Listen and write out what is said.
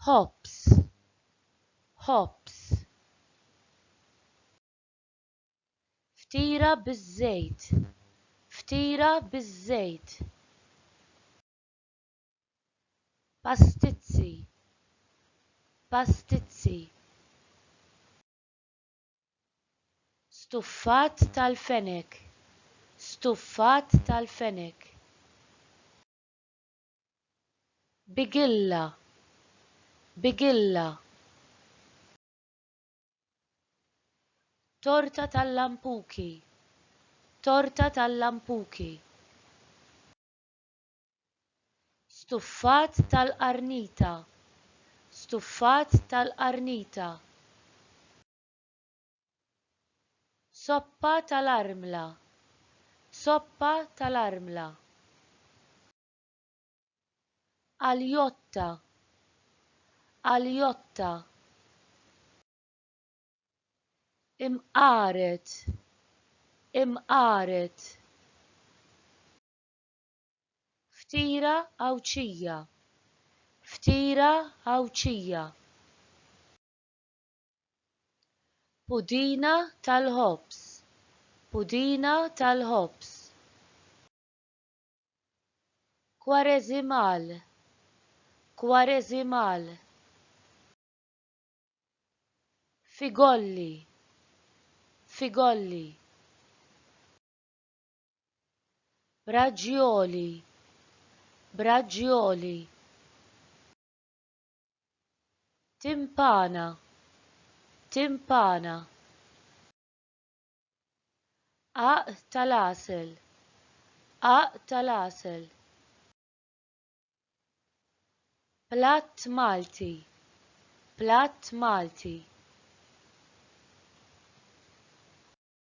hops hops ftira biż-żejt ftira biż-żejt pastizzi pastizzi Stuffat tal-fenek Stuffat tal-fenek Bigilla Bigilla Torta tal-lampuki Torta tal-lampuki Stuffat tal-qarnita Stuffat tal-qarnita Soppa tal-armla Soppa tal-armla Aljotta Aljotta Imqaret Imqaret Ftira Għawdxija Ftira Għawdxija. Pudina tal-ħobż Pudina tal-ħobż. Kwareżimal Kwareżimal. Figolli Figolli. Braġioli Braġioli Timpana Timpana Għaqq tal-għasel Għaqq tal-għasel Platt Malti Platt Malti